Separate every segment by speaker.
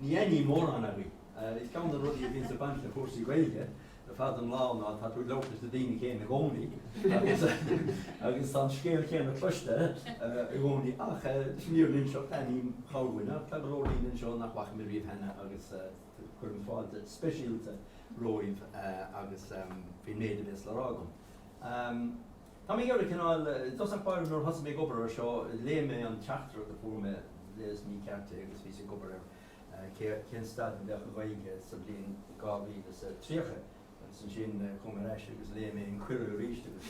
Speaker 1: Ní aithním mórán agaibh. Is ceann de na rudaí a bhíonns ag baint le cúrsaí Gaeilge ar fad an lá ná tá tú ag labhairt leis na daoine céanna i gcónaí agus tá an scéal céanna cloiste i gcónaí. Ach leis an fhírinne a inseacht, aithním corrdhuine ach tá go leor daoine anseo nach bhfaca mé riamh cheana agus cuirim fáilte speisialta romhaibh agus faoin méid a bhéas le rá agam. Tá mé ar chineál, i dtosach báire, nuair a thosaigh mé ag obair ar seo, léigh mé an teachtaireacht a fuair mé leis na ceisteanna agus bhí mé ag obair ar cén staid ina mbeadh an Ghaeilge sa bhliain 2030 agus ansin chuaigh mé ar ais agus léigh mé an cuireadh arís agus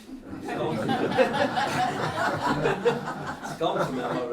Speaker 1: scaoilfidh mé mar.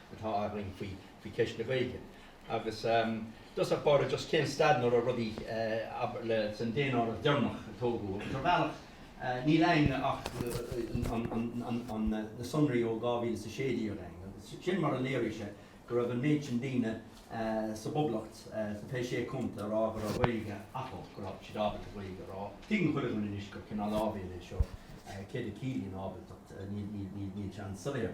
Speaker 1: atá againn faoi cheist na Gaeilge. Agus i dtosach báire, just cén staid ina raibh rudaí, abair, le. San daonáireamh deireanach a tógadh, ar bhealach, níl againn ach na sonraí ó 2016 againn agus sin mar a léirigh sé go raibh an méid sin daoine sa bPoblacht, sna Sé Chontae Fichead, a rá go raibh Gaeilge acu, go raibh siad ábalta Gaeilge a labhairt. Tuigeann chuile dhuine anois gur cineál áibhéil é seo, céard a chiallaíonn ábaltacht, níl sé an-soiléir.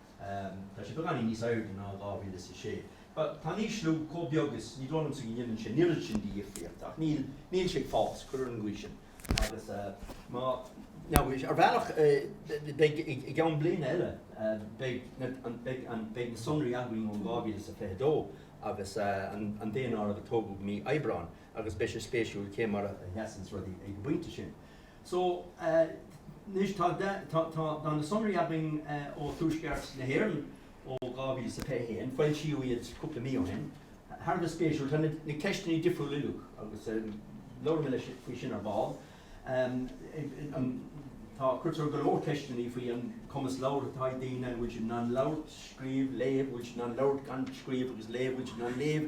Speaker 1: Tá sé beagáinín níos airde ná in 2006. Tá an t-ísliú chomh beag is ní dóigh liomsa go ndéanann sé an oiread sin de dhifríocht ach níl sé ag fás, cuir ar an gcaoi sin, agus ar bhealach beidh i gceann bliana eile, beidh na sonraí againn ó 2022 agus an daonáireamh a tógadh mí Aibreáin agus beidh sé spéisiúil cé mar a sheasanns rudaí ag an bpointe sin. So, tá na sonraí againn ó Tuaisceart na hÉireann ó 2021, foilsíodh iad cúpla mí ó shin, thar a bheith spéisiúil. Tá na ceisteanna difriúil uilig agus labhróidh mé libh faoi sin ar ball. Cuirtear go leor ceisteanna faoi an cumas labhartha atá ag daoine, an bhfuil siad in ann labhairt, scríobh, léamh, an bhfuil siad in ann labhairt gan scríobh agus léamh, an bhfuil siad in ann léamh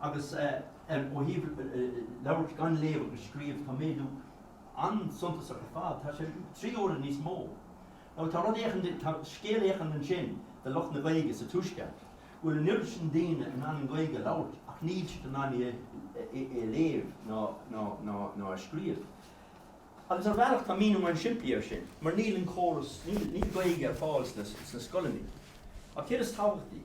Speaker 1: Agus ó thaobh labhairt gan léamh agus scríobh, tá méadú an-suntasach ar fad, tá sé trí huaire níos mó. So tá rud éicint, tá scéal éicint ansin do lucht na Gaeilge sa Tuaisceart, go bhfuil an oiread sin daoine in ann an Ghaeilge a labhairt ach níl siad in ann í a léamh ná a scríobh. Agus ar bhealach tá míniú an-simplí air sin, mar níl an córas, níl Gaeilge ar fáil sna scoileanna. Ach céard is tábhachtaí,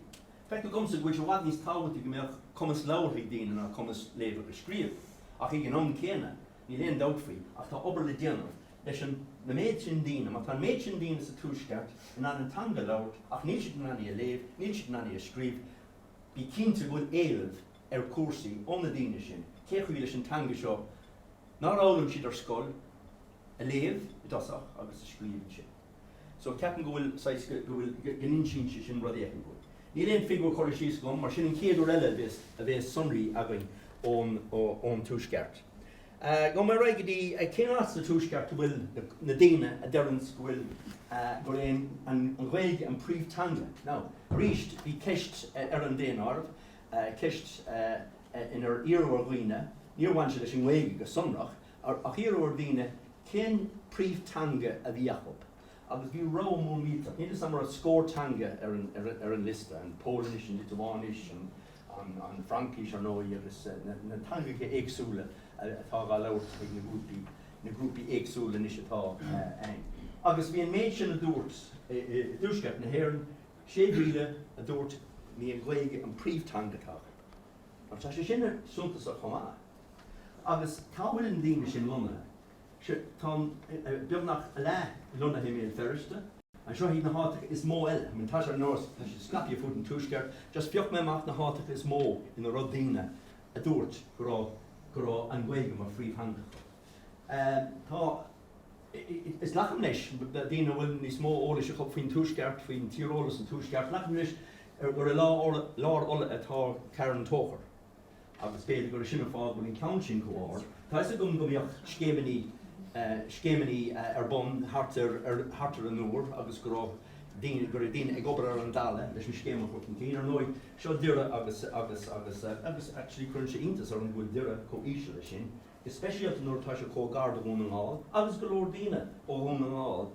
Speaker 1: feictear dhomsa go bhfuil sé i bhfad níos tábhachtaí go mbeadh cumas labhartha ag daoine ná cumas léamh agus scríobh, ach ag an am céanna, níl aon dabht faoi ach tá obair le déanamh leis an méid sin daoine, má tá an méid sin daoine sa Tuaisceart in ann an teanga a labhairt ach níl siad in ann í a léamh, níl siad in ann í a scríobh, bí cinnte go bhfuil éileamh ar chúrsaí ó na daoine sin. Cé chaoi leis an teanga seo, nár fhoghlaim siad ar scoil, a léamh i dtosach agus a scríobh ansin? So ceapaim go bhfuil saghas, go bhfuil, go n-insíonn sé sin rud éigin dúinn. Níl aon figiúir curtha síos agam, mar sin an chéad uair eile a bhéas sonraí againn ón Tuaisceart. Gabhfaidh mé ar aghaidh go dtí, cén áit sa Tuaisceart a bhfuil na daoine a deireann go bhfuil, gurb é an Ghaeilge an príomhteanga? Now, arís, bhí ceist ar an daonáireamh, ceist inar iarradh ar dhaoine, níor bhain sé leis an nGaeilge go sonrach, Ach iarradh ar dhaoine cén príomh-teanga a bhí acu agus bhí rogha mór mílteach, níl fhios agam an raibh scór teanga ar an liosta, an Pholainnis, an Liotuáinis, an Fhraincis ar ndóigh agus na teangacha éagsúla atá á labhairt ag na grúpaí, na grúpaí éagsúla anois atá ann. Agus bhí an méid sin a dúirt i dTuaisceart na hÉireann, 6,000 a dúirt gurb í an Ghaeilge an príomh-teanga atá acu Mar tá sé sin suntasach chomh maith, Agus cá bhfuil na daoine sin lonnaithe? Sea, tá beagnach a leath lonnaithe i mBéal Feirste. Seo iad na háiteacha is mó eile. I mean, tá sé ar nós, tá siad scaipthe fud an Tuaisceart. Just phioc mé amach na háiteacha is mó ina raibh daoine a dúirt go raibh, go raibh an Ghaeilge mar phríomhtheanga acu. Tá, is glacaim leis, daoine a bhfuil níos mó eolais acu faoin Tuaisceart, faoin tíreolas sa Tuaisceart, glacaim leis gur i lár, lár Uladh atá Carn Tóchair. agus b'fhéidir gur sin an fáth go bhfuil an ceann sin chomh ard, tá 'fhios agam go mbíodh scéimeannaí ar bun thart ar an Iúr agus go raibh daoine, go raibh daoine ag obair ar an talamh leis an scéim a chur chun cinn. Ar ndóigh, seo Doire agus, agus, agus, agus actually cuireann sé iontas orm go bhfuil Doire chomh íseal leis sin, go speisialta nuair atá sé chomh gar do Dhún na nGall agus go leor daoine ó Dhún na nGall.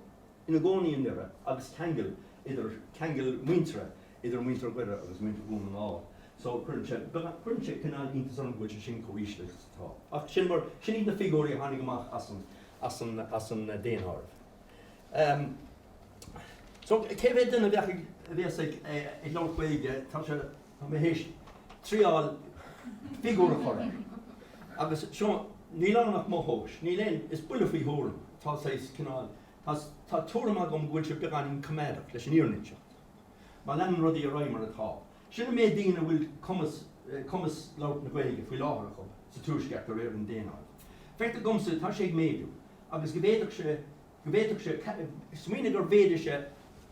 Speaker 1: ina gcónaí i nDoire agus ceangal idir, ceangal muintire idir muintir Dhoire agus muintir Dhún na nGall. So cuireann sé, cuireann sé cineál iontas orm go bhfuil sé sin chomh híseal is atá. Ach sin mar, sin iad na figiúirí a tháinig amach as an, as an, as an daonáireamh. Ehm so cé mhéad duine a bheadh ag, a bhéas ag, ag labhairt Gaeilge, tá sé, Tá mé th'éis triáil figiúir a chur air, agus seo, níl ann ach mo thomhas, níl aon, is buille faoi thuairim, tá saghas, cineál, tá, tá tuairim agam go bhfuil sé beagáinín coimeádach, leis an fhírinne a inseacht, má leanann rudaí ar aghaidh mar atá. Sin an méid daoine a bhfuil cumas, cumas labhairt na Gaeilge faoi láthair acu sa Tuaisceart de réir an daonáirimh. Feictear dom, tá sé ag méadú, agus go bhféadfadh sé, go bhféadfadh sé, smaoinigh gur mhéadaigh sé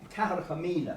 Speaker 1: ceathracha míle,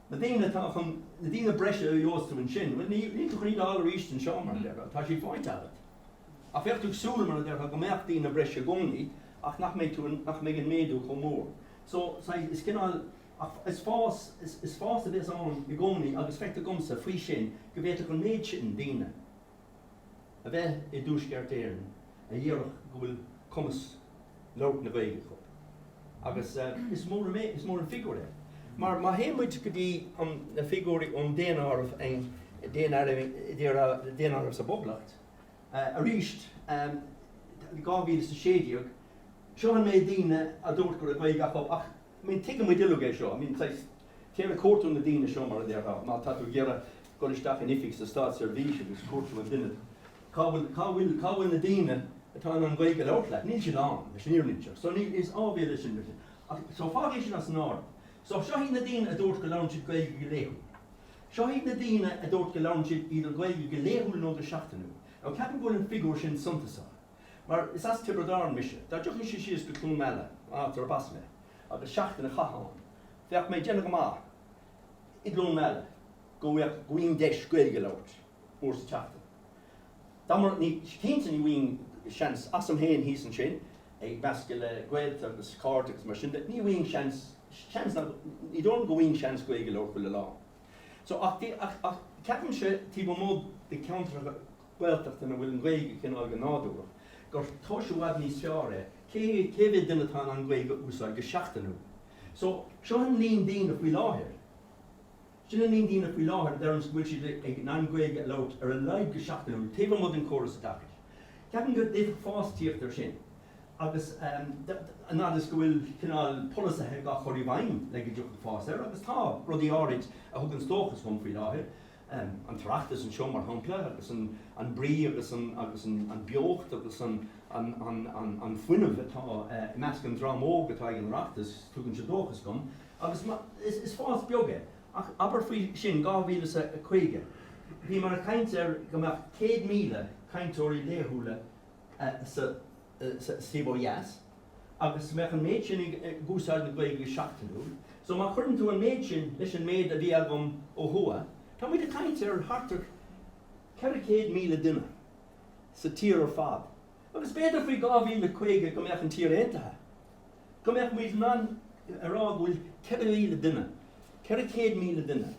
Speaker 1: Na daoine atá chun, na daoine breise a gheobhas tú ansin, bhuel, níl, níl tú chun iad a fháil arís an dtuigeann tú, seo, mar a déarfá, tá siad faighte agat. Ach bheadh tú ag súil, mar a déarfá, go mbeadh daoine breise i gcónaí ach nach mbeidh tú, nach mbeidh an méadú chomh mór. So, saghas, is cineál, is fás, is fás a bheas ann i gcónaí agus feictear domsa, faoi sin, go bhféadfadh an méid sin daoine, a bheith i dTuaisceart Éireann a dhéarfadh go bhfuil cumas labhairt na Gaeilge acu. Agus is mór an méid, is mór an figiúr é. Mar má théann muid go dtí na figiúirí ón daonáireamh, daonáireamh sa bPoblacht, arís, 2016, seo an méid daoine a dúirt go raibh Gaeilge acu ach mean, tuigimid uilig é seo. I mean, saghas, tá mé ag cuartú na daoine seo, mar a déarfá, má tá tú ag iarraidh dul isteach in oifig sa státseirbhís ag cuartú an duine, cá bhfuil, cá bhfuil, cá bhfuil na daoine atá in ann Gaeilge a labhairt leat? Níl siad ann, leis an fhírinne seo. So níl, is áibhéil é sin freisin. Ach, so fág é sin as an áireamh. So seo iad na daoine a dúirt go labhraíonn siad Gaeilge go laethúil. Seo iad na daoine a dúirt go labhraíonn siad either Gaeilge go laethúil nó go seachtainiúil. Now ceapaim go bhfuil an figiúr sin suntasach. mar is as Tiobraid Árann mise, dá dtiocfainn síos go Cluain Meala, áit ar b'as mé, agus seachtain a chaitheamh ann, bheadh mé ag déanamh go maith i gCluain Meala go mbeadh agam deis Gaeilge a labhairt uair sa tseachtain. Mar, ní, cinnte ní bhíonn seans agam féin thíos ansin, ag meascadh le gaolta agus cairde agus mar sin de, ní bhíonn seans, seans nach, ní dóigh liom go bhíonn seans Gaeilge a labhairt chuile lá. So, ach, ach, ach, ceapaimse taobh amuigh de cheantracha Gaeltachta ina bhfuil an Ghaeilge cineál go nádúrach, gur tomhas i bhfad níos fearr é cé cé mhéad duine atá in ann Gaeilge a úsáid go seachtainiúil. So, seo an líon daoine faoi láthair. Sin an líon daoine faoi láthair a deireanns go bhfuil siad ag in ann Gaeilge a labhairt ar a laghad go seachtainiúil, taobh amuigh den córas oideachais. Ceapaim go bhféadfadh fás tíocht ar sin agus an fhad is go bhfuil cineál polasaithe dhá chur i bhfeidhm le go dtiocfadh fás air agus tá rudaí áirid a thuganns dóchas dhom faoi láthair. an tOireachtas anseo, mar shampla, agus an brí agus an beocht agus an fuinneamh atá i measc an dream óg atá ag an Oireachtas, tugann sé dóchas dom. Agus is fás beag é. Ach abair faoi sin 2050, bhíomar ag caint ar go mbeadh 100,000 cainteoirí laethúla sa taobh ó dheas, agus go mbeadh an méid sin ag úsáid na Gaeilge go seachtainiúil, so má chuireann tú an méid sin leis an méid a bhí agam ó thuaidh, tá muid ag caint ar thart ar 400,000 duine sa tír ar fad, agus b'fhéidir faoi 2050 go mbeadh an tír aontaithe, go mbeadh muid in ann a rá go bhfuil 4,000 duine, 400,000 duine.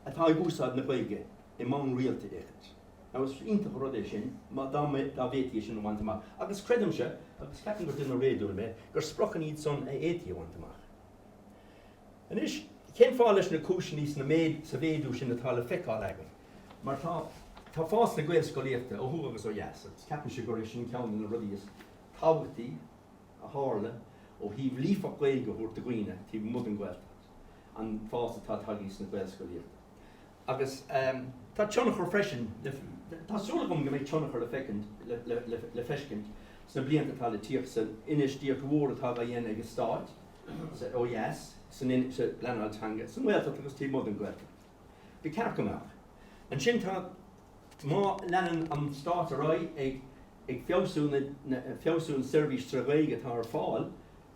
Speaker 1: atá ag úsáid na Gaeilge ar bhonn rialta le caint. Now is iontach an rud é sin má, dá mbeadh, dá bhféadfaí é sin a bhaint amach. Agus creidimse, agus ceapaim gur duine réadúil mé, gur spriocanna iad san a fhéadfaí a bhaint amach. Anois, cén fáth, leis na cúiseanna sna méid, sa mhéadú sin atá le feiceáil agam? Mar tá, tá fás na Gaelscolaíochta ó thuaidh agus ó dheas agus ceapaimse gurb é sin ceann de na rudaí is tábhachtaí. a tharla ó thaobh líofacht Gaeilge a thabhairt do dhaoine taobh amuigh den Ghaeltacht, an fás atá ag tarlú sa nGaelscolaíocht agus tá tionchar freisin le, tá súil agam go mbeidh tionchar le feicint, le feiscint sna blianta atá le tíocht san infheistíocht mhór atá á dhéanamh ag an Stát sa, ó dheas, san, sa bpleanáil teanga sa nGaeltacht agus taobh amuigh den Ghaeltacht. Ba cheart go mbeadh ansin. Tá. Má leanann an Stát ar aghaidh ag ag feabhsú na feabhsú an seirbhís tre Ghaeilge atá ar fáil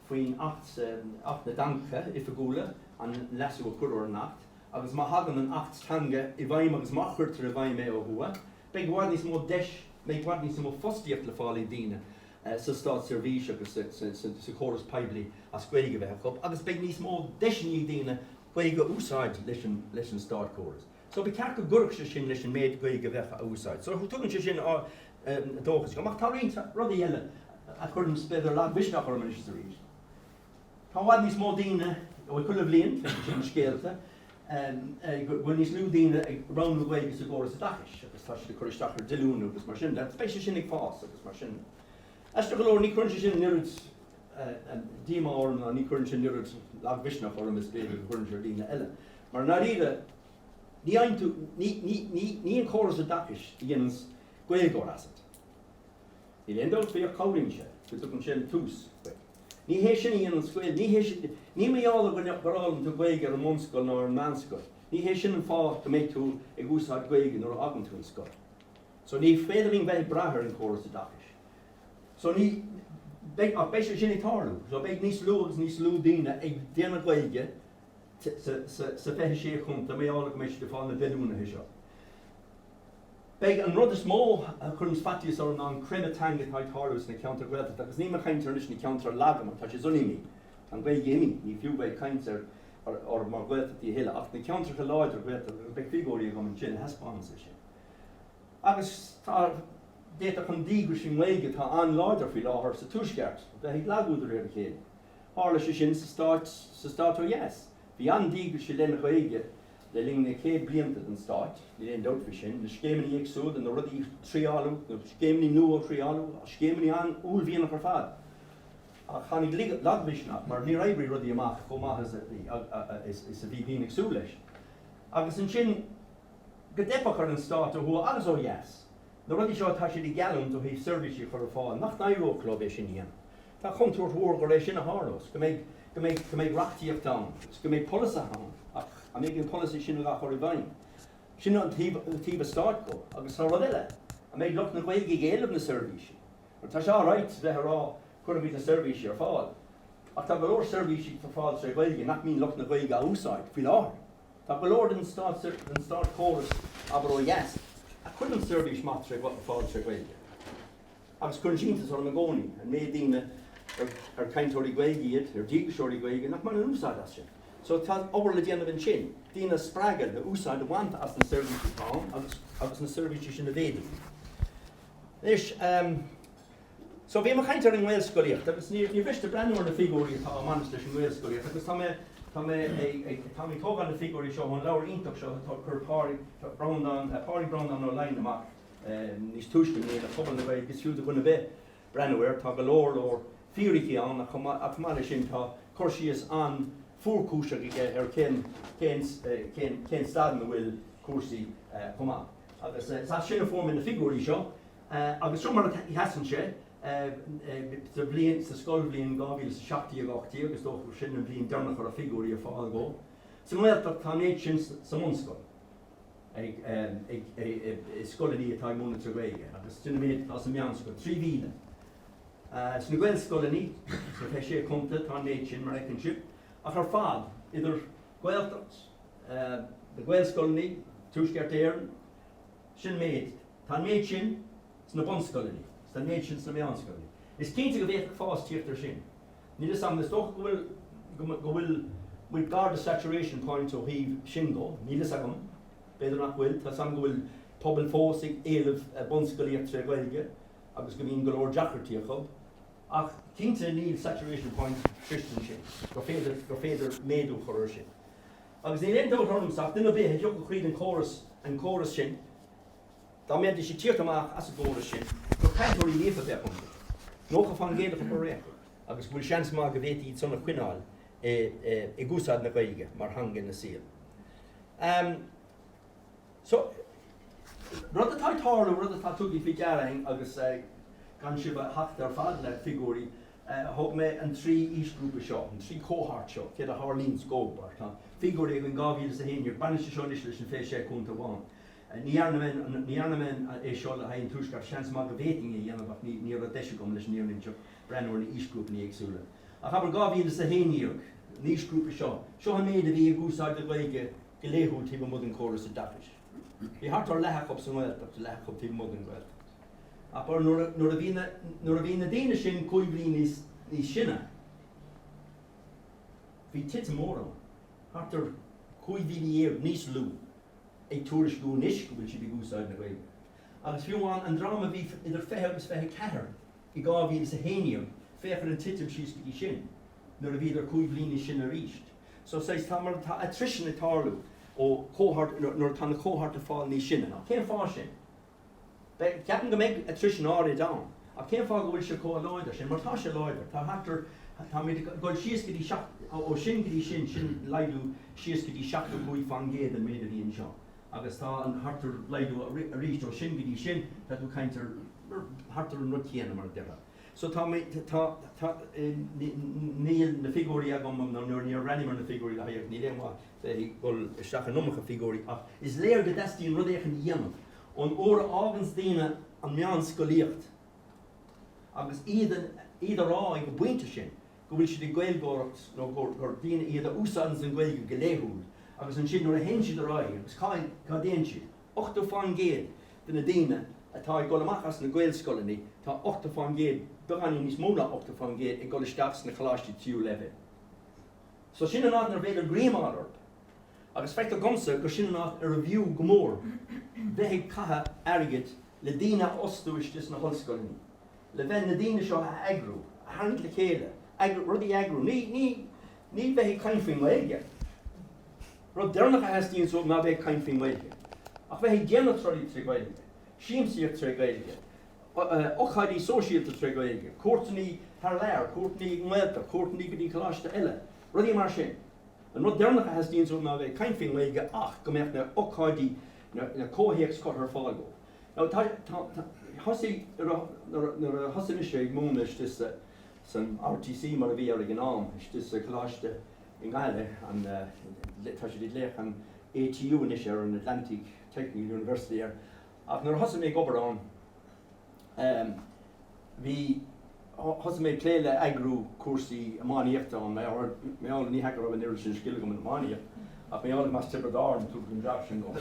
Speaker 1: faoin Acht Acht na dTeangacha Oifigiúla, an leasú a cuireadh ar an Acht, agus má thagann an tAcht Teanga i bhfeidhm agus má chuirtear i bhfeidhm é ó thuaidh, beidh i bhfad níos mó deis beidh i bhfad níos mó fostaíocht le fáil ag daoine sa Státseirbhís agus sa sa sa chóras poiblí as Gaeilge a bheith acu agus beidh níos mó deiseanna ag daoine Gaeilge a úsáid leis an leis an Státchóras. So ba cheart go gcuirfeadh sé sin leis an méid Gaeilge a bheadh á úsáid. So tugann sé sin dóchas dhom. Ach tá roinnt rudaí eile a chuireann, b'fhéidir, lagmhisneach orm anois is arís. Tá i bhfad níos mó daoine, bhuel chuile bhliain, feicim sin i scéalta, go bhfuil níos lú daoine ag roghnú Gaeilge sa gcóras oideachais agus tá siad ag cur isteach ar dhíolúintí agus mar sin de. Beidh sé sin ag fás agus mar sin de. Aisteach go leor, ní chuireann sé sin an oiread díomá orm ná ní chuireann sé an oiread lagmhisneach orm is b'fhéidir a chuireann sé ar dhaoine eile. Mar i ndáiríre, ní fhaigheann tú, ní, ní, ní, ní an córas oideachais a dhéananns Gaeilgeoir asat. Níl aon dabht faoi ach cabhraíonn sé, go dtugann sé an tús duit. Ní hé sin a dhéananns Gaeilge, ní hé sin, ní mar gheall ar dhuine, gur fhoghlaim tú Gaeilge ar an mbunscoil ná ar an meánscoil, ní hé sin an fáth go mbeidh tú ag úsáid Gaeilge nuair a fhágann tú an scoil. So, ní féidir linn bheith ag brath ar an gcóras oideachais. So, ní, beidh, ach beidh sé sin ag tarlú. So, beidh níos lú agus níos lú daoine ag déanamh Gaeilge sa 26 chontae, mar gheall go mbeidh siad ag fáil na díolúintí seo. Beidh an rud is mó a chuireanns faitíos orm ná an creimeadh teanga atá ag tarlú sna ceantair Ghaeltachta, agus nílim ag caint ar anois na ceantair laga mar tá siad sin imithe, tá an Ghaeilge imithe, ní fiú bheith ag caint ar orthu mar Ghaeltachtaí a thuilleadh, ach na ceantracha láidre Ghaeltachta, agus beidh figiúirí agam ansin a thaispeánanns é sin. Agus tá, d'fhéadfadh an díograis don Ghaeilge atá an-láidir faoi láthair sa Tuaisceart, bheith ag lagú de réir a chéile. Tharla sé sin sa stát ó dheas. Bhí an-díograis don Ghaeilge le linn na céad blianta den stát, níl aon dabht faoi sin, na scéimeanna éagsúla, na rudaí a triaileadh, na scéimeanna nua a triaileadh, scéimeanna an-uaillmhianach ar fad. Ach tháinig lagmhisneach mar níor oibrigh rudaí amach chomh maith is a bhí daoine ag súil leis. Agus ansin, go dteipfeadh ar an stát ó thuaidh agus ó dheas. Na rudaí seo atá siad ag geallúint ó thaobh seirbhísí a chur ar fáil, nach n-éireodh leo é sin a dhéanamh. Tá contúirt mhór gur é sin a tharlós, go mbeidh, go mbeidh reachtaíocht ann agus go mbeidh polasaithe ann ach an mbeidh an polasaí sin á chur i bhfeidhm? Sin an taobh stáit dhó. Agus tá rud eile, an mbeidh lucht na Gaeilge ag éileamh na seirbhísí? Mar tá sé alright bheith ag rá cuirfimid na seirbhísí ar fáil ach tá go leor seirbhísí ar fáil tré Ghaeilge nach mbíonn lucht na Gaeilge á úsáid faoi láthair. Tá go leor den státchóras, abair ó dheas, a chuireann seirbhís maith ar fáil tré Ghaeilge. Agus cuireann sé iontas orm i gcónaí an méid daoine ar cainteoirí Gaeilge iad, ar díograiseoirí Gaeilge, nach mbaineann úsáid as sin. So tá obair le déanamh ansin, daoine a spreagadh le úsáid a bhaint as na seirbhísí atá ann agus agus na seirbhísí sin a mhéadú. Anois, ehm, so bhí mé ag caint ar an nGaelscolaíocht agus ní ní miste breathnú ar na figiúirí atá ag baint leis an nGaelscolaíocht agus tá mé Tá mé ag tá mé ag tógáil na figiúirí seo ón leabhar iontach seo a chuir Pádraig Breandán eh, Pádraig Breandán Ó Laighin amach Níos túisce i mbliana, Pobal na Gaeilge, is fiú do dhuine ar bith breathnú air. Tá go leor leor fírící ann ach chomh maith le sin tá cur síos an-fhuarchúiseach aige ar cén cén staid ina bhfuil cúrsaí chomh maith. Agus is as sin a fuair mé na figiúirí seo agus seo mar a sheasann sé sa bhliain, sa scoilbhliain 2017-18, is dócha gur sin an bhliain deireanach a raibh figiúirí ar fáil dhó. Sa nGaeltacht, tá an méid sin sa mbunscoil. i scoileanna atá ag múineadh trí Ghaeilge agus sin an méid atá sa mheánscoil, 3,000. Sna Gaelscoileanna sna 26 Chontae tá an méid sin, mar a fheiceann sibh, ach ar fad, idir Ghaeltacht, na Gaelscoileanna, Tuaisceart Éireann, sin an méid. Tá an méid sin sna bunscoileanna, tá an méid sin sna meánscoileanna. Is cinnte go bhféadfadh fás teacht air sin. Níl 'fhios a'm, is dócha go bhfuil, go bhfuil muid gar do saturation point ó thaobh sin dó, níl 'fhios agam, b'fhéidir nach bhfuil, tá 'fhios a'm go bhfuil pobail fós ag éileamh bunscolaíocht tré Ghaeilge agus go mbíonn go leor deacrachtaí acu ach cinnte níl saturation point sroichte ansin, gur féidir, gur féidir méadú a chur ar sin agus níl aon dabht orm ach duine ar bith a thiocfadh thríd an chóras, an córas sin, Dá mbeidís ag tíocht amach as an gcóras sin, gur cainteoirí líofa a bheadh iontu, 90 fán gcéad acu ar aon chor, agus go bhfuil seans maith go bhféadfaí iad san a choinneáil ag úsáid na Gaeilge mar theanga ina saol. So, rud atá ag tarlú, rud atá tugtha faoi deara againn, agus gan sibh a thachtadh ar fad le figiúirí, thogh mé an trí aoisghrúpa seo, an trí chohórt seo, céard a tharlaíonn dhóibh, mar tá figiúirí againn 2011, baineann sé seo anois leis an 26 contae amháin. Ní dhearna mé é seo le haghaidh an Tuaisceart, seans maith go bhféadfainn é a dhéanamh ach ní raibh deis agam leis an fhírinne a inseacht, breathnú ar na haoisghrúpanna éagsúla. Ach abair 2011 an aoisghrúpa seo, seo an méid a bhí ag úsáid na Gaeilge go laethúil taobh amuigh den córas oideachais. Bhí thart ar leath acu sa nGaeltacht, leath acu taobh amuigh den Ghaeltacht. Abair nuair a bhí na daoine sin cúig bhliain níos sine, bhí titim mhór ann, thart ar 15,000 níos lú. ag tuairisciú anois go bhfuil siad ag úsáid na Gaeilge. Agus fiú amháin an dream a bhí idir 20 agus 24 i 2011, féach ar an titim síos go dtí sin, nuair a bhíodar cúig bhliain níos sine arís. So says tá mar atá attrition ag tarlú ó chomhar nuair atá an cohort ag fáil níos sine. Ach cén fáth sin? Bhuel, ceapaim go mbeidh attrition áirid ann. Ach cén fáth go bhfuil sé comh láidir sin? Mar tá sé láidir. Tá thart ar, táimid ag dul síos go dtí seacht, ó sin go dtí sin, sin laghdú síos go dtí 75 fán gcéad den méid a bhí anseo. Agus tá an, thart ar, laghdú aríst ó sin go dtí sin, tá tú ag caint ar, ar thart ar an rud céanna, mar a déarfá. So tá mé, tá, tá, níl na figiúirí agam nó níor bhreathnaigh mé ar na figiúirí le haghaidh, ach níl aon mhaith, féadfaí dul isteach in iomarca figiúirí ach is léir go dteastaíonn rud éicint a dhéanamh. Ón uair a fháganns daoine an mheánscolaíocht agus iad ag rá ag an bpointe sin go bhfuil siad ag Gaeilgeoireacht nó gur daoine iad a úsáideanns an Ghaeilge go laethúil agus ansin nuair a théann siad ar aghaidh agus cá dtéann siad? 80% de na daoine atá ag dul amach as na Gaelscoileanna tá 80%, beagáinín níos mó ná 80% ag dul isteach sna coláistí tríú leibhéal. So sin an áit inarbh fhéidir greim a fháil orthu. Agus feictear dhomsa gur sin an áit arbh fhiú go mór bheith ag caitheamh airgid le daoine a fhostú istigh sna hollscoileanna, le bheith, na daoine seo a eagrú, a tharraingt le chéile, eagrú, rudaí a eagrú. Ní, ní, ní bheith ag caint faoin nGaeilge. Rud deireanach a theastaíonn uaibh ná bheith ag caint faoin nGaeilge. Ach bheith ag déanamh rudaí trí Ghaeilge, siamsaíocht tré Ghaeilge, ócáidí sóisialta tré Ghaeilge, cuairteanna thar lear, cuairteanna i nGaeltacht, cuairteanna go dtí Coláiste eile, rudaí mar sin. An rud deireanach a theastaíonn uaim ná a bheith ag caint faoin nGaeilge ach go mbeadh na h-ócáidí, an comhthéacs curtha ar fáil dóibh. Now tá, tá, tá, thosaigh, nuair a, nuair a, nuair a thosaigh mise ag múineadh istigh sa, san RTC mar a bhí air ag an am, istigh sa Coláiste i nGaillimh, an, tá siad ag glaoch an ATU anois air, an Atlantic Technical University air, Ach nuair a thosaigh mé ag obair ann, em, bhí, thosaigh mé ag plé le eagrú cúrsaí iománaíochta ann, mar gheall, mar gheall, ní hea go raibh an oiread sin scil agam in iománaíocht, ach mar gheall gur as Tiobraid Árann, tugadh an jab sin dhom.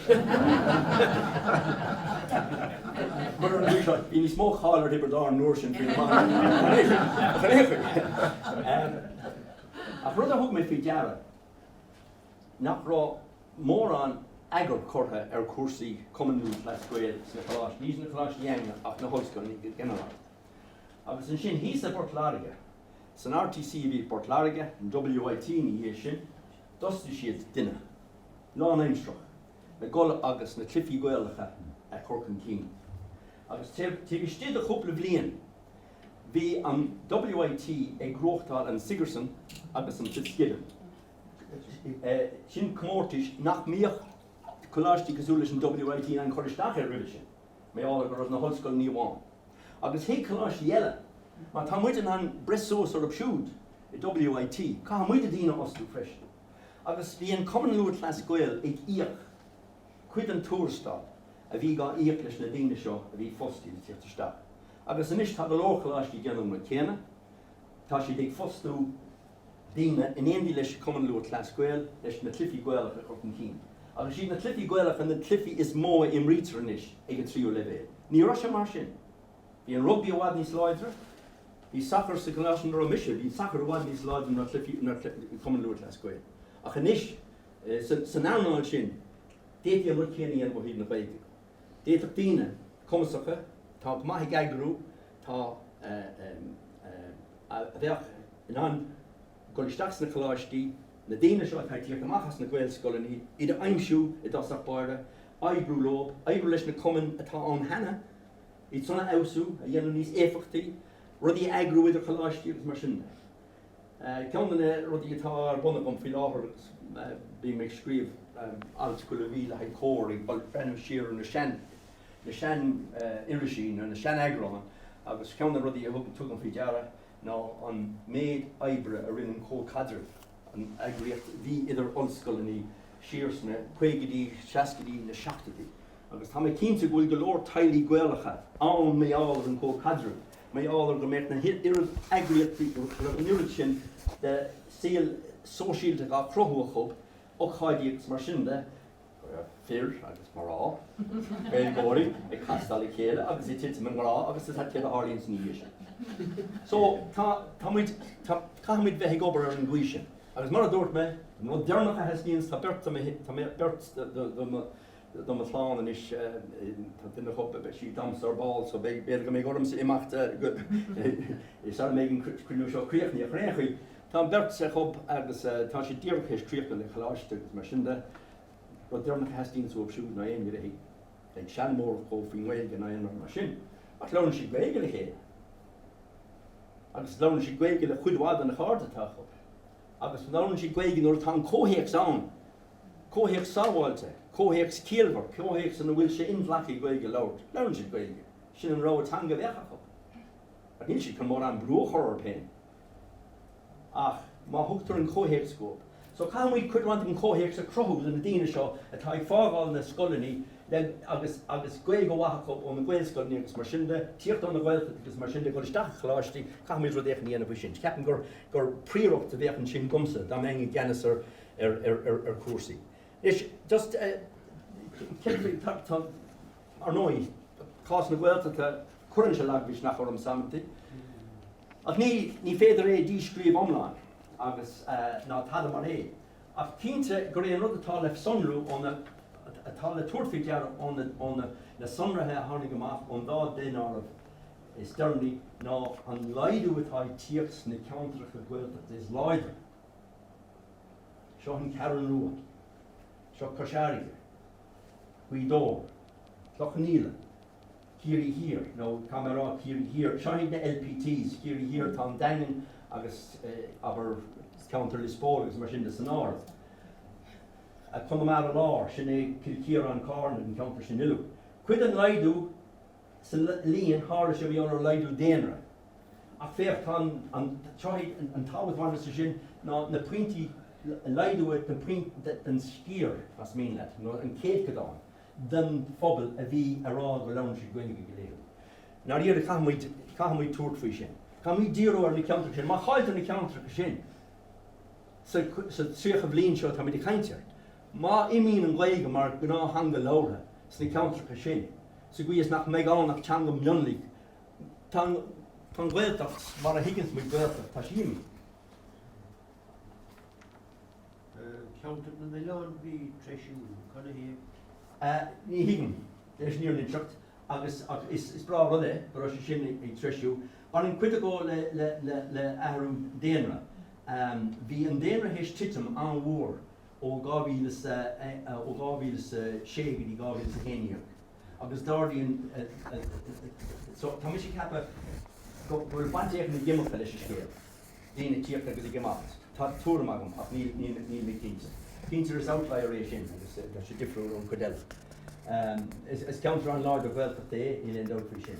Speaker 1: Mar a luaigh seo, bhí níos mó cáil ar Thiobraid Árann an uair sin faoin iománaíocht ná an oiread sin, ach ar aon chaoi, em, ach rud a thug mé faoi deara, nach raibh mórán eagair curtha ar chúrsaí Cumann Lúthchleas Gael sna coláistí, ní sna coláistí Danainn ach sna hollscoileanna go ginearálta. Agus ansin thíos i bPort Láirge, san RTC a bhí i bPort Láirge, an WIT ina dhiaidh sin, d'fhostaigh siad duine, lánaimseartha, le dul agus na cluichí Gaelacha a chur chun cinn. Agus taobh istigh de chúpla bliain bhí an WIT ag buachtáil an Sigerson agus an Fitzgibbon. Sin comórtas nach mbíodh coláistí cosúil leis an WIT in ann cur isteach air roimhe sin, b'é le haghaidh na hollscoileanna amháin, agus thuig coláistí eile, má tá muid in ann breith suas orthu siúd i WIT, caithfidh muide daoine a fhostú freisin. Agus bhí an Cumann Lúthchleas Gael ag íoc cuid den tuarastal a bhí á íoc leis na daoine seo a bhí fostaithe le tíocht isteach. Agus anois tá go leor coláistí ag déanamh an rud céanna, tá siad ag fostú, daoine in éindí leis Cumann Lúthchleas Gael leis na cluichí Gaelacha a chur chun cinn. Ach is iad na cluichí Gaelacha na cluichí is mó a imrítear anois ag an tríú leibhéal. Ní raibh sé mar sin. Bhí an rugbaí i bhfad níos láidre, bhí sacar, sa gcoláiste ina raibh mise, bhí sacar i bhfad níos láidre ná cluichí, ná cluichí Cumann Lúthchleas Gael. Ach anois, san earnáil sin, d'fhéadfaí an rud céanna a dhéanamh ó thaobh na Gaeilge de. D'fhéadfadh daoine cumasacha atá go maith ag eagrú, atá, a bheadh in ann dul isteach sna coláistí, na daoine seo atá ag teacht amach as na Gaelscoileanna, iad a aimsiú i dtosach báire, oibriú leo, oibriú leis na cumainn atá ann cheana, iadsan a fheabhsú, a dhéanamh níos éifeachtaí, rudaí a eagrú idir choláistí agus mar sin de. Ceann de na rudaí atá ar bun agam faoi láthair agus bím ag scríobh alt chuile mhí le haghaidh Comhar ag breathnú siar ar na sean, na sean irisí nó na sean eagráin agus ceann de na rudaí a thug, tugaim faoi deara ná an méid oibre a rinne an Comhchaidreamh, an eagraíocht a bhí idir ollscoileanna siar sna caogaidí, seascaidí, na seachtoidí. Agus tá mé cinnte go bhfuil go leor teaghlaigh Gaelacha ann maidir leis an gComhchaidreamh Maíálar go mbeadh na h-oiread eagraíochtaí go raibh an oiread sin de shaol sóisialta dhá cruthú acu, ocáidí agus mar sin de, go raibh fir agus mná, Gaeilgeoirí, ag castáil le chéile agus ag titim i ngrá agus is ait iad a tharlaíonn ina dhiaidh sin. So, tá, tá muid, tá, caithfimid bheith ag obair ar an gcaoi sin. Agus mar a dúirt mé, an rud deireannach a theastaíonns, tá beirt de mo, tá beirt de mo, do mo chlann anois, tá duine acu, beidh sí ag damhsa ar ball so b'fhéidir go mbeidh ormsa imeacht sara mbeidh an cruinniú seo críochnaithe. Ar aon chaoi, tá an bheirt acu agus tá siad díreach théis críochnú le coláiste agus mar sin de, rud deireanach a theastaíonns uathu siúd ná éinne a bheith ag seanmóireacht dhóibh faoin nGaeilge ná aon rud mar sin. Ach labhrann siad Gaeilge le chéile agus labhrann siad Gaeilge le cuid mhaith de na cairde atá acu agus labhrann siad Gaeilge nuair atá an comhthéacs ann. Comhthéacs sábháilte, comhthéacs ciallmhar, comhthéacs ina bhfuil sé inghlactha Gaeilge a labhairt, labhrann siad Gaeilge, sin an rogha teanga a bheadh acu. Ach níl siad chun mórán brú a chur orthu féin ach má thugtar an comhthéacs dhóibh. So caithfimid cuid mhaith den chomhthéacs a chruthú do na daoine seo atá ag fágáil na scoileanna le, agus, agus Gaeilge mhaith acu ó na Gaelscoileanna agus mar sin de, tíocht ó na Gaeltachtaí agus mar sin de, dhul isteach i gcoláistí, caithfimid rud éicint a dhéanamh faoi sin. Ceapaim gur, gur príoracht a bheadh ansin dhomsa dá mbeinn i gceannas ar, ar chúrsaí. Anois, just, ar ndóigh, cás na Gaeltachta, cuireann sé lagmhisneach ormsa amanta, ach ní féidir é a dhíscríobh iomlán agus, ná tada mar é, ach cinnte gur é an rud atá le sonrú ó na, atá le tabhairt faoi deara ó na sonraithe a tháinig amach ón dá daonáireamh is deireanaí ná an laghdú atá ag tíocht sna ceantracha Gaeltachta is láidre. Seo an Cheathrú Rua. Seo Cois Fharraige, Gaoth Dobhair, Cloich Cheann Fhaola, Ciarraí Thiar, nuair atá mé a rá Ciarraí Thiar, seo iad na LPT's, Ciarraí Thiar, tá an Daingean agus, abair, ceantar Lios Póil agus mar sin de san áireamh. Conamara Láir, sin é Cill Chiaráin, Carna, an ceantar sin uilig. Cuid den laghdú, sa líon, tharla sé i ngeall ar laghdú daonra. Ach féach, tá an tábhacht bhainteach sa sin ná na pointí laghdú den sciar, más mian leat, nó an céadchodán den phobal a bhí a rá go labhrann siad Gaeilge go laethúil. I ndáiríre, caithfimid, caithfimid tabhairt faoi sin. Caithfimid díriú ar na ceantracha sin. Má chailltear na ceantracha sin sa 30 bliain seo atáimid ag caint air, Má imíonn an Ghaeilge mar ghnáththeanga labhartha sna ceantracha sin, sa gcaoi is nach mbeidh ann ach teanga mhionlaigh, tá an, tá an Ghaeltacht mar a thuigeanns muid Gaeltacht, tá sí imithe. Ceantar na nOileán bhí treisiú, canathaobh? Ní thuigim, leis an fhírinne agus ach is is breá rud é go raibh sé sin ag treisiú. Baineann cuid de go le le le le athrú daonra. Bhí an daonra théis titim an-mhór ó 2006 go dtí 2011 agus dar linn, so tá mise ag ceapadh go bhfuil baint éicint ag imirce leis an scéal, daoine ag tíocht agus ag imeacht, tá tuairim agam ach níl mé cinnte. Cinnte is outlier é sin agus tá sé difriúil ón chuid eile. Is ceantar an-láidir Ghaeltachta é, níl aon dabht faoi sin.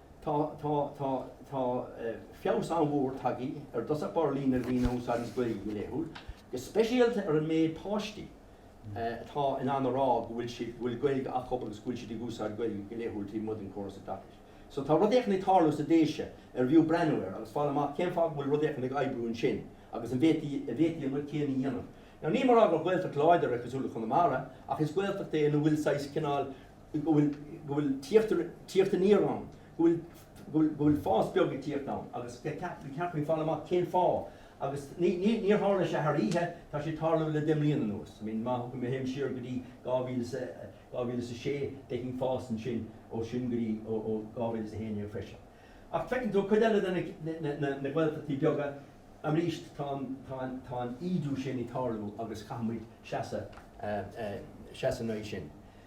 Speaker 1: Tá, tá, tá, tá feabhas an-mhór tagtha ar dtosach báire líon na ndaoine a úsáideas Gaeilge go laethúil, go speisialta ar an méid páistí atá in ann a rá go bhfuil siad, go bhfuil Gaeilge acu agus go bhfuil siad ag úsáid Gaeilge go laethúil taobh amuigh den chóras oideachais. So tá rud éicint ag tarlú sna Déise arbh fhiú breathnú air agus fáil amach cén fáth go bhfuil rud éicint ag oibriú ansin agus an bhféadfaí, an bhféadfaí an rud céanna a dhéanamh. Now níl mé a rá gur Gaeltacht láidir é cosúil le Conamara ach is Gaeltacht é ina bhfuil saghas cineál, go bhfuil go bhfuil tíocht tíocht aniar ann go bhfuil go bhfuil go bhfuil fás beag ag tíocht ann agus go gcaith go gcaithfí fáil amach cén fáth agus ní ní níor tharla sé thar oíche tá sé ag tarlú le deich mbliana anuas I mean má thugann má théim siar go dtí dhá mhíle is a dhá mhíle is a sé d'fheicfinn fás ansin ó sin go dtí ó ó dhá mhíle is a haon déag freisin ach feiceann tú cuid eile de na na na na Gaeltachtaí beaga arís tá an tá an tá an ídiú sin ag tarlú agus caithfimid seasamh seasamh in aghaidh sin.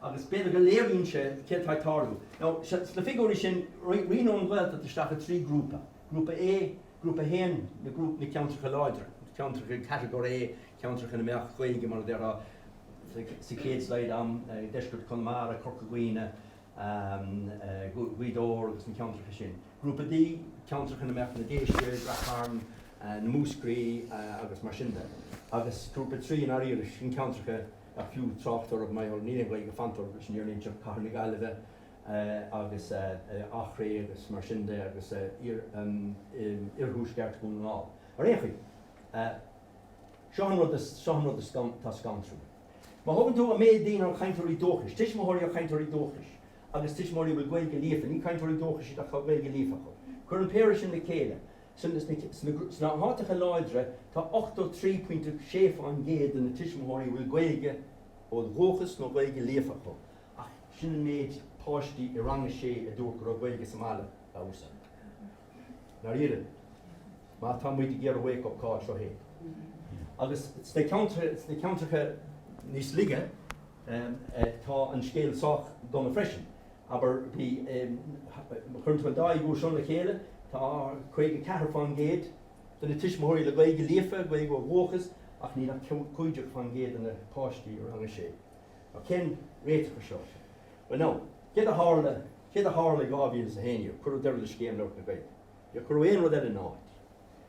Speaker 1: agus b'fhéidir go léiríonn sé céard atá ag tarlú now sna figiúirí sin, roinneadh an Ghaeltacht isteach i dtrí ghrúpa, Grúpa A, Grúpa 1, na ceantracha láidre, ceantracha Catagóir A, ceantracha ina mbeadh Gaeilge, mar a déarfá, sa chéad slide a'm, deisceart Chonamara, Corca Dhuibhne, Gaoth Dobhair agus na ceantracha sin, Grúpa B, ceantracha ina mbeadh na Déise, Rath Chairn, na Múscraí agus mar sin de, agus Grúpa 3, i ndáiríre, sin ceantracha. Nach fiú trácht orthu, Maigh Eo, níl aon Ghaeilge fanta orthu sin, Éireannaigh de chathair na Gaillimhe agus Achréidh agus mar sin de agus oirthuaisceart Dhún na nGall. Ar aon chaoi, seo an rud is, seo an rud is, tá scantrúil. Má thógann tú an méid daoine ar cainteoirí dúchais, tuismitheoirí ar cainteoirí dúchais agus tuismitheoirí a bhfuil Gaeilge líofa, ní cainteoirí dúchais iad ach tá Gaeilge líofa acu, cuir an péire sin le chéile Sna háiteacha láidre, tá 83.6% de na tuismitheoirí a bhfuil Gaeilge ó dhúchas nó Gaeilge líofa acu, ach sin an méid páistí i rang a sé a dúirt go raibh Gaeilge sa mbaile dá húsáid. Ndáiríre, má tá muid ag iarraidh wake up call, seo é. Agus sna ceantracha níos laige, tá an scéal sách dona freisin. Abair, má chuireann tú an dá fhigiúr seo le chéile, tá 54% de na tuismitheoirí le Gaeilge líofa, Gaeilge ó dhúchas, ach níl ach 15% de na páistí i rang a sé. Now, cén réiteach air seo? Bhuel, now, céard a tharla, céard a tharla i 2011? Cuireadh deireadh le Scéim Labhairt na Gaeilge. Níor cuireadh aon rud eile ina áit.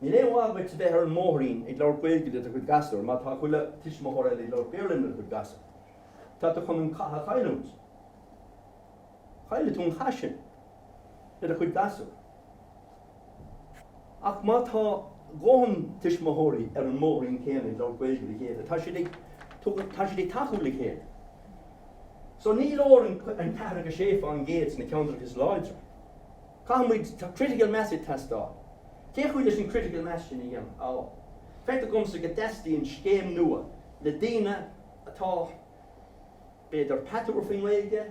Speaker 1: Níl aon mhaith duit a bheith ar an mbóithrín ag labhairt Gaeilge le do chuid gasúr má tá chuile tuismitheoir eile ag labhairt Béarla lena gcuid gasúr. Tá tú chun an cath a chailliúint. Chaillfidh tú an cath sin le do chuid gasúr. Ach má tá dhóthain tuismitheoirí ar an mbóithrín céanna ag labhairt Gaeilge le chéile, tá siad ag, tá siad ag tacú le chéile. So ní leor an 46 fán gcéad sna ceantracha is láidre. Caithfimid, tá critical mass ag teastáil. Cén chaoi leis an critical mass sin a dhéanamh? Feictear domsa go dteastaíonn scéim nua le daoine atá, b'fhéidir, patuar faoin nGaeilge,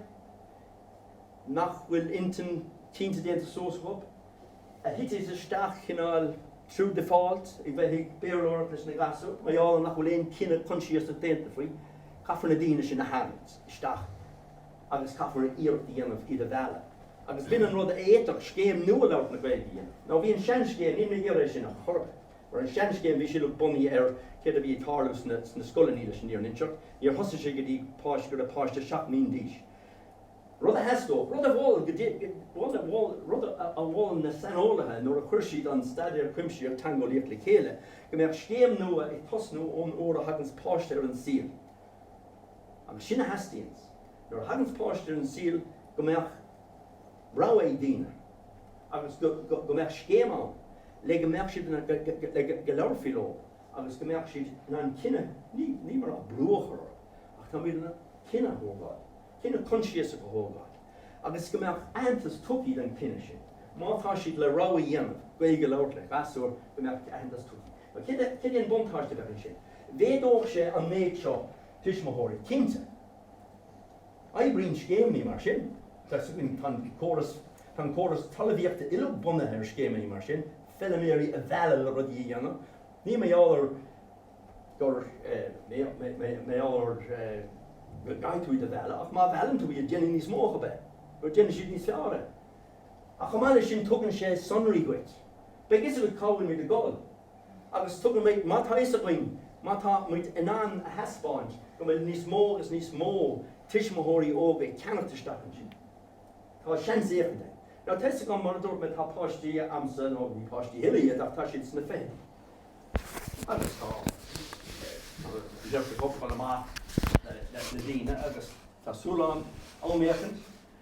Speaker 1: nach bhfuil intinn chinnte déanta suas acu, a thitfidh isteach cineál through default a bheith ag Béarlóireacht leis na gasúir, mar gheall nach bhfuil aon chinneadh consiasach déanta faoi. Caithfear na daoine sin a tharraingt isteach. agus caithfear iarracht a dhéanamh iad a mhealladh agus b'in an rud a fhéadfadh scéim nua labhairt na Gaeilge a dhéanamh, nó bhí an seanscéim, níl mé ag iarraidh é sin a chur orthu, mar an seanscéim bhí sé bunaithe ar céard a bhí ag tarlú sna scoileanna leis an fhírinne a inseacht, níor thosaigh sé go dtí go raibh páiste seacht mbliana d'aois, rud a theastódh, rud a mhol, go dtí go dtí, bhuel, rud a mhol na saineolaithe nuair a chuir siad an Staidéar Cuimsitheach Teangeolaíoch le chéile, go mbeadh scéim nua ag tosnú ón uair a thaganns páiste ar an saol. Agus sin a theastaíonns. Nuair a thaganns páiste ar an saol go mbeadh rogha ag daoine agus go mbeadh scéim ann le go mbeadh siad in ann, le go labharfaí leo agus go mbeadh siad in ann cinneadh, níl mé ag rá brú a chur orthu ach táimid in ann cinneadh a thógáil, cinneadh consiasach a thógáil agus go mbeadh aitheantas tugtha don chinneadh sin. Má tá siad le rogha a dhéanamh, Gaeilge a labhairt le gasúr, go mbeadh aitheantas tugtha. Céard é an buntáiste a bheadh ansin? Mhéadódh sé an méid seo tuismitheoirí, cinnte. Oibríonn scéimeannaí mar sin. Tá an córas talamhaíochta uilig bunaithe ar scéimeannaí mar sin, feiliméaraí a mhealladh le rudaí a dhéanamh. Níl mé ag rá go gcaithfidh tú iad a mhealladh, ach má mheallann tú iad, déanfaidh níos mó acu é, nó déanfaidh siad níos fearr é. Ach chomh maith leis sin, tugann sé sonraí duit. Beidh fhios agat cá bhfuil muid ag dul. agus tugaimid má tá fhios againn, má tá muid in ann a thaispeáint, go bhfuil níos mó agus níos mó tuismitheoirí óga ag ceannacht isteach ansin. Tá seans éigin de. Tá fhios agam, mar a dúirt mé, tá páistí a'msa, nó ní páistí a thuilleadh iad ach tá siad sna fichidí, agus tá, bhuel, deirtear go dtiochfar amach leis na daoine agus tá súil a'm, am éicint,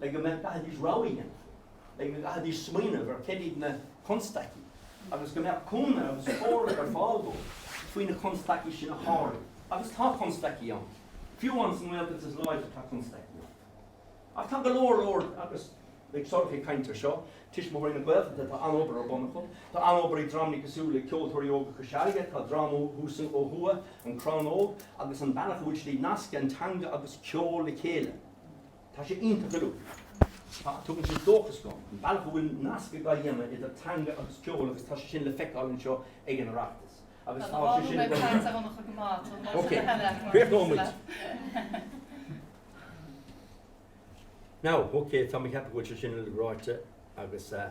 Speaker 1: le go gcaithfidís rogha a dhéanamh, le go gcaithfidís smaoineamh ar céard iad na constaicí agus go mbeadh cúnamh agus comhairle ar fáil dóibh faoi na constaicí sin a shárú. Agus tá constaicí ann. Fiú amháin sa nGaeltacht is láidre tá constaicí ann. Ach tá go leor leor, agus beidh Sorcha ag caint ar seo, Tuismitheoirí na Gaeltachta, tá an-obair ar bun acu, tá an-obair ag dreamanna cosúil le Ceoltóirí Óga Chois Fharraige, tá dream thuas ó thuaidh, An Crann Óg, agus an bealach a bhfuil siad ag nascadh an teanga agus ceol le chéile. Tá sé iontach go leor. Ach tugann sé dóchas dom, an bealach a bhfuil nasc á dhéanamh idir teanga agus ceol agus tá sé sin le feiceáil anseo ag an Oireachtas agus tá sé sin ag dul ar aghaidh. Ok, críochnóidh muid. Now, ok, tá mé ag ceapadh go bhfuil sé sin uilig ráite agus eh.